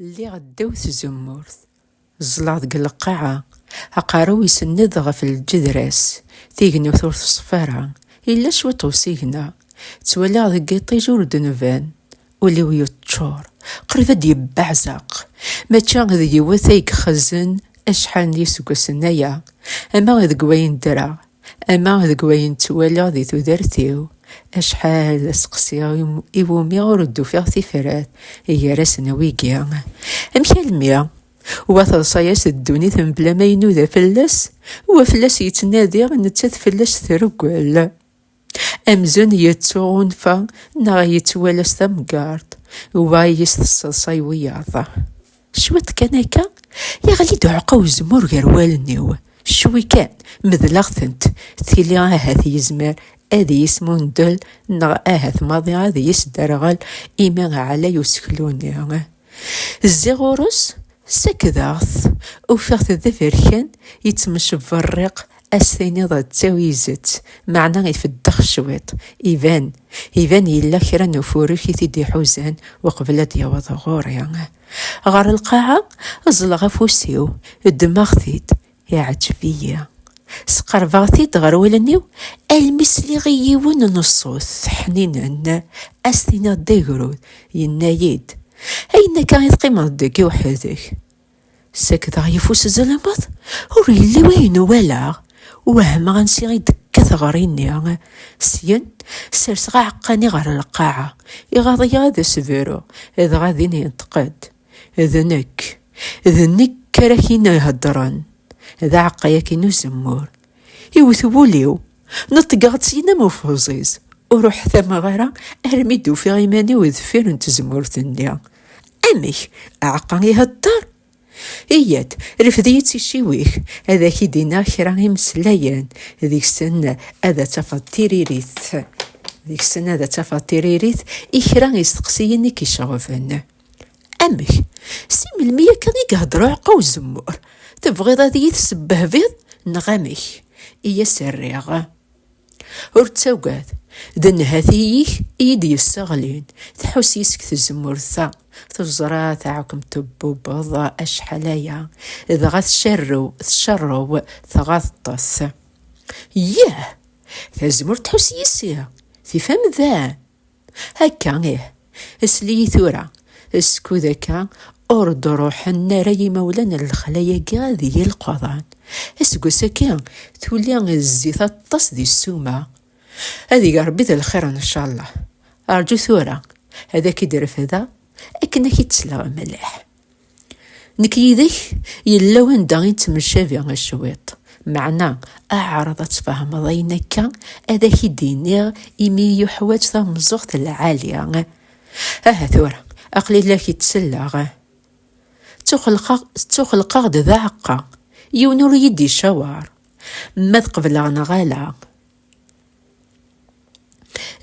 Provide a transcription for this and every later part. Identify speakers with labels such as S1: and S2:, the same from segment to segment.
S1: Lliɣ ddaw tzemmurt, ẓẓleɣ deg lqaɛa, aqerru-w isenned ɣef lǧedra-s, tignewt ur teṣfa ara, yella cwiṭ usigna, ttwaliɣ deg yiṭij ur d-nban, ul-iw yeččur, qrib ad d-yebbeɛzeq, mačči d yiwet ay ixezen acḥal n yiseggasen aya, ama deg wayen ddreɣ, Ama deg wayen ttwaliɣ di tudert-iw, acḥal d asteqsi i wumi ur d-ufiɣ tifrat gar-asen a wigi, amek almi wa teḍsa-as ddunit mebla ma inuda fell-as, wa fell-as yettnadi, nettat fell-as treggel. Amzun yettuɣunfa neɣ yettwala s tamgerḍt, wa i as-tesseḍsay wiyaḍ. Cwiṭ kan akka, yeɣli-d uɛeqqa uzemmur gar wallen-iw. Cwi kan, medleɣ-tent, tili ahat yezmer ad iyi-yesmundel neɣ ahat maḍi ad iyi-yesderɣel imi ɛlay useklu-nni. Zziɣ ɣur-s, sakdeɣ-t, ufiɣ-t d aberkan yettmecberriq as-tiniḍ d tawizet, meɛna ifeddex cwiṭ, iban, iban yella kra n ufurek i t-id-iḥuzan uqbel ad d-yaweḍ ɣur-i. Ɣer lqaɛa, ẓẓleɣ afus-iw, ddmeɣ-t-id, iɛǧeb-iyi. Sqerbeɣ-t-id ɣer wallen-iw, almi sliɣ i yiwen n ṣṣut ḥninen, as-tiniḍ d agrud, yenna-yi-d, Ayen akka i teqqimeḍ deg i weḥd-k? Sakdeɣ yeffus zzalameḍ, ur yelli wayen uwaleɣ, wehmeɣ ansi i d-tekka teɣri-nni. Syen, serseɣ aɛeqqa-nni ɣer lqaɛa, iɣaḍ-iyi ad as-bruɣ, dɣa din yenṭeq-d, D nekk, d nekk ara ak-in-iheddren, d aɛeqqa-yaki n uzemmur. Iwwet wul-iw. Neṭgeɣ-d syin am ufeẓiz, ur uḥtameɣ ara armi d-ufiɣ iman-iw deffir n tzemmurt-nni. Amek, aɛeqqa ihedder? Iyyat, refd-iyi d ticiwi-k, ad ak-id-iniɣ kra imeslayen, deg-sen ad tafeḍ tiririt, deg-sen ad tafeḍ tiririt i kra isteqsiyen i k-iceɣben. Amek? Si melmi akka i ihedder uɛeqqa uzemmur? Tebɣiḍ ad iyi-tesbehbiḍ neɣ amek? I as-rriɣ. Ur ttagad, d nnhati-ik i yi-d-yesseɣlin, tḥus yes-k tzemmurt-a, teẓra taɛukem tebbubeḍ acḥal aya, dɣa tcerrew, tcerrew, tɣaḍeḍ-t. Yah! Tazemmurt tḥus yis-i, tif amdan. Akka ih, sel-iyi tura, skud akka ur d-ruḥen ara yimawlan n lexla-agi ad yilqaḍan. Aseggas akka tuli zzit aṭas di ssuma. Ad ig Rebbi d lxir ncallah. Rǧu tura, ad ak-id-refdeɣ akken ad k-id-sleɣ mliḥ. Nekk yid-k yella wanda i nettemcabi cwiṭ, meɛna ɛreḍ ad tfehmeḍ ayen akka ad ak-id-iniɣ imi yuḥwaǧ tameẓẓuɣt lɛali. Aha tura, aql-i la k-id-selleɣ. Ttuxelqeɣ-d d aɛeqqa, yiwen ur iyi-d-icaweṛ ma ad qebleɣ neɣ ala.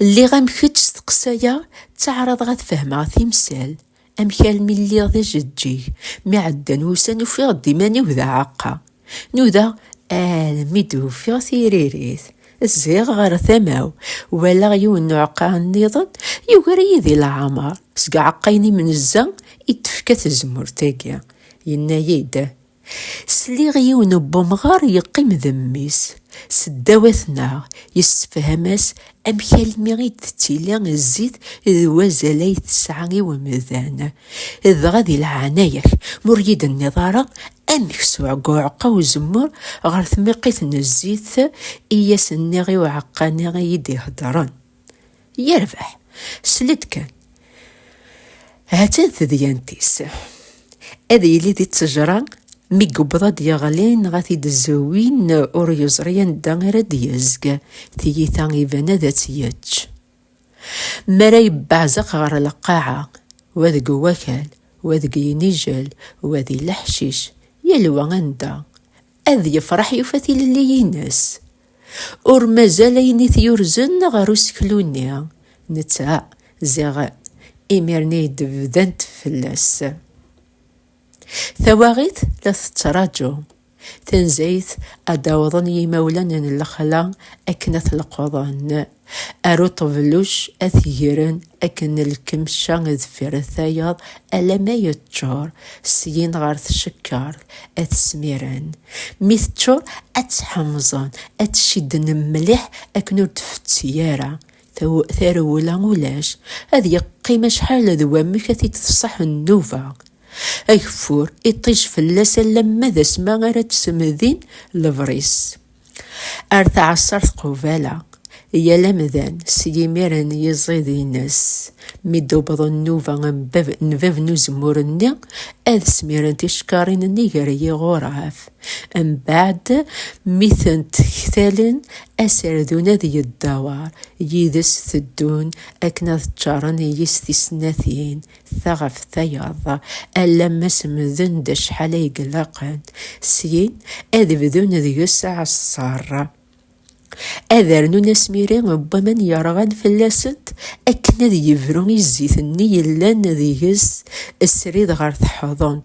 S1: Lliɣ am kečč steqsayeɣ, ttaɛraḍeɣ ad fehmeɣ timsal. Amek almi lliɣ d ajeǧǧig, mi ɛeddan wussan ufiɣ-d iman-iw d aɛaqqa. Nudaɣ almi d-ufiɣ tiririt. Zziɣ ɣer tama-w, walaɣ yiwen n uɛeqqa nniḍen, yugar-iyi di leɛmer. Seg uɛeqqa-inem n zza i d-tefka tezmurt-agi. Yenna-yi-d, Sliɣ yiwen n umɣar yeqqim d mmi-s seddawat-neɣ, yessefham-as amek almi i d-tettili zzit d wazal ay tesɛa i umdan. Dɣa di leɛnaya-k, ma ur yi-d-tenniḍ ara amek s uɛegguɛeqqa uzemmur ɣer tmiqit n zzit i as-nniɣ i uɛeqqani i yi-d-iheddren. Yerbeḥ, sled kan. Ha-tt-an tedyant-is. Ad yili di ttejra, mi yewweḍ ad yeɣli neɣ ad t-id-zewwin ur yeẓri anda ara d-yezg, tiyita iban ad tt-yečč. Mi ara yebbeɛzeq ɣer lqaɛa, wa deg wakal, wa deg yinijel, wa di leḥcic, yal wa anda, ad yefreḥ yufa tilelli-ines. Ur mazal ayen i t-yurzen ɣer useklu-nni, netta ziɣ imir-nni i d-bdant fell-as. Tawaɣit la tettṛaju. Tanzayt ad d-awḍen yimawlan n lexla akken ad t-leqḍen. Ar uṭebluc a t-gren akken lkemca deffir tayeḍ alamma yeččur, syin ɣer tcekkart a t-smiren. Mi teččur a tt-ḥemẓen, a tt-cidden mliḥ akken ur d-tfetti ara, tarewla ulac, ad yeqqim acḥal d wamek a t-id-tṣaḥ nnuba. Ageffur iṭij fell-as alamma d asma ara d-smedin lebris. Ar tɛessart qubala, yal amdan s yimir n yiẓid-ines, mi d-tewweḍ nnuba n bab n uzemmur-nni, ad smiren ticekkarin-nni gar yiɣuraf. Mbeɛd, mi tent-ktalen, aserdun ad yeddawar, yid-s teddun akken ad ččaren yis-s tisnatin, Ta ɣef tayeḍ, alamma semden-d acḥal ay ilaqen, syin ad bdun deg-s aɛeṣṣar. Ad rnun asmiri n waman yerɣan fell-asent akken ad yebru i zzit-nni yellan deg-s srid ɣer teḥḍunt.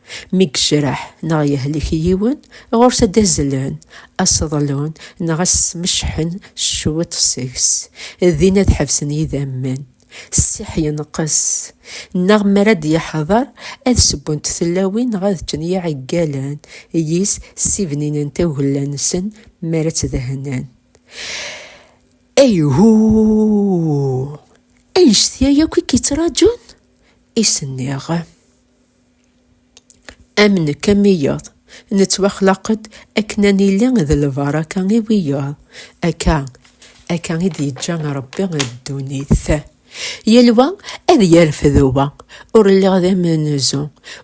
S1: Mi yejreḥ neɣ yehlek yiwen, ɣur-s ad d-azzlen, ad s-ḍlun neɣ ad s-smeccḥen cwiṭ seg-s, din ad ḥebsen yidammen, ssiḥ yenqes, neɣ mi ara d-yeḥḍer ad sewwent tlawin neɣ ad ččen yiɛeggalen yis, ssibninen tagella-nsen mi ara tt-dehnen. Ayhuuuh! Annect-a yakk i k-yettraǧun? I s-nniɣ. Am nekk am iyeḍ, nettwaxlaq-d akken ad nili d lbaraka i wiyeḍ. Akka, akka i d-yeǧǧa Ṛebbi ddunit. Yal wa ad yerfed wa, ur lliɣ d amenzu,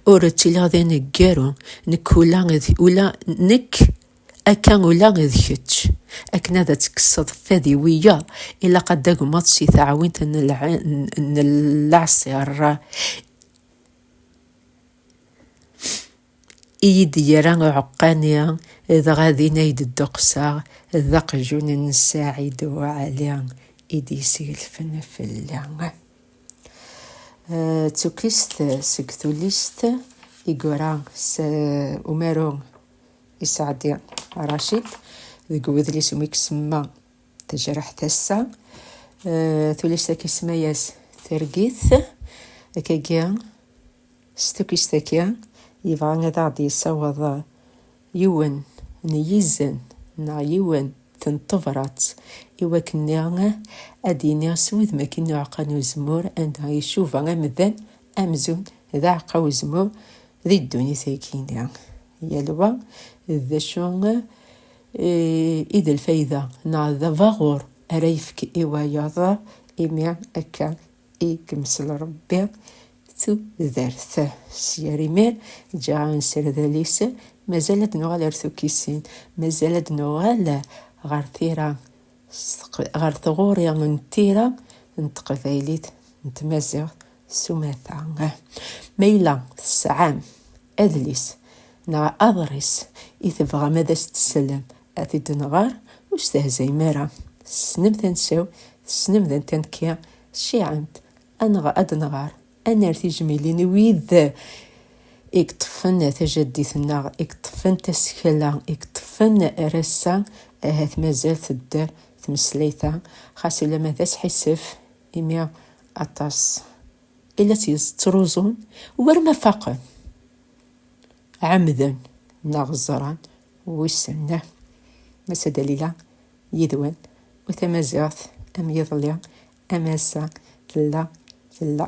S1: ur ttiliɣ d aneggaru, nekk ula d ula nekk, akka ula d kečč. Akken ad tekkseḍ fad i wiyeḍ, ilaq ad d-tagmeḍ si taɛwint n lɛṣir. I yi-d-yerra uɛeqqani, dɣa din ay d-dduqseɣ, d aqjun n Saɛid U Ɛli i d-yesgelfen fell-i. D tukkist seg tullist i yura umaru Iseɛdi Racid deg wedlis umi isemma. Tejreḥt ass-a, eh, tulist-agi isemma-yas Tergit, akkagi s tukist-agi yebɣa ad aɣ-d-yessaweḍ yiwen n yizen neɣ yiwen n tebrat i wakken niɣ ad d-yini s wudem akin n uɛeqqa n uzemmur anda icuba amdan amzun d aɛeqqa uzemmur di ddunit-agi. Yal wa d acu i d lfayda neɣ d abaɣur ara yefk i wayeḍ, imi akka i yemsel Rebbi tudert. S yir imi, ǧǧiɣ anserdal-is, mazal ad d-nuɣal ar tukkisin, mazal ad d-nuɣal ɣer tira, ɣer tɣuri n tira n teqbaylit, n tmaziɣt s umata. Ma yella tesɛam Adlis neɣ aḍris i tebɣam ad as-tessellem, ad t-id-nɣer, ur stehzayem ara, tessnem tansa-w, tessnem d anta nekki, cciɛemt, ad nɣer, ad nɣer, ad nerr tijmilin i wid i yeṭṭfen tajaddit-nneɣ, i yeṭṭfen tasekla, i yeṭṭfen ar ass-a, ahat mazal tedder tmeslayt-a, xas ulamma d asḥissef, imi aṭas. i la tt-yettruẓun war ma faqen, ɛemmden neɣ ẓran, wissen. Massa Dalila yid-wen u tamaziɣt am yiḍelli am ass-a tella tella.